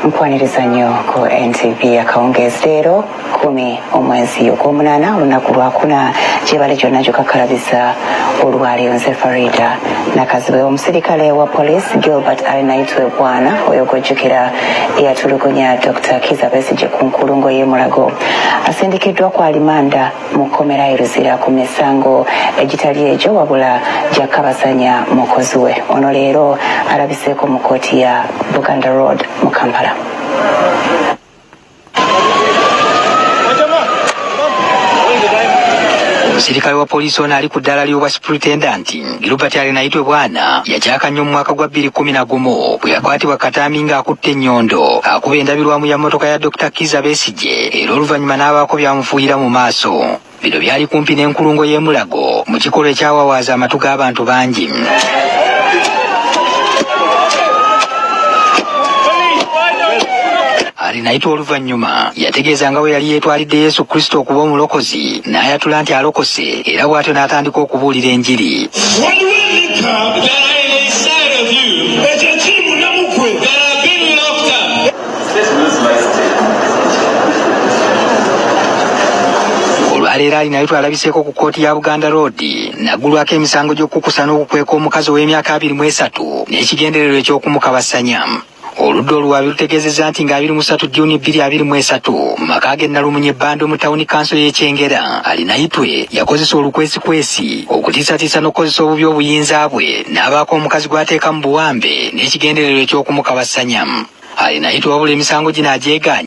nkwaniriza nnyo ku ntv akawungeezi leero kumi omwezi ogwomunaana olunaku lwakuna gyebale gyonna gyokakalabiza olwaleero nze farida nakazibwe omusirikale wa poliisi gilbert alinaitwe bwana oyo gwojjukira eyatulugunya dr kiza besigye ku nkulungo y'emulago asindikiddwa ku alimanda mu kkomera e Luzira ku misango egitali egyo wabula gya Kabasanya mukozi we. Ono leero alabiseeko mu kkooti ya Buganda Road mu Kampala. Omusirikale wa poliisi ono ali ku ddaala ly'obwa supritendenti. Gilbert Arinaitwe Bwana yakyaka nnyo mu mwaka gwa bbiri kkumi na gumu bwe yakwatibwa Kataami ng'akutte ennyondo akuba endabirwamu ya mmotoka ya Dokita Kizza Besigye era oluvannyuma n'abaako by'amufuuyira mu maaso. Bino byali kumpi n'enkulungo y'e Mulago mu kikolwa ekyawawaaza amatu g'abantu bangi. Arinaitwe oluvannyuma yategeeza nga bwe yali yeetwalidde Yesu Kristo okuba omulokozi n'ayatula nti alokose era bw'atyo n'atandika okubuulira enjiri olwaleero ali nayo twalabiseeko ku kkooti ya buganda road naggulwako emisango gy'okukukusa n'okukweka omukazi ow'emyaka abiri mu esatu n'ekigendererwa eky'okumukabasanya Oludda oluwaabi lutegeezezza nti nga abiri mu satu Juni bbiri abiri mu esatu mu maka ge Nalumunye Bando mu tawuni kanso y'e Kyengera, Arinaitwe yakozesa olukwesikwesi okutiisatiisa n'okukozesa obubi obuyinza bwe n'abaako omukazi gw'ateeka mu buwambe n'ekigendererwa eky'okumukabassanya. Arinaitwe wabula emisango gino agyegaanyi.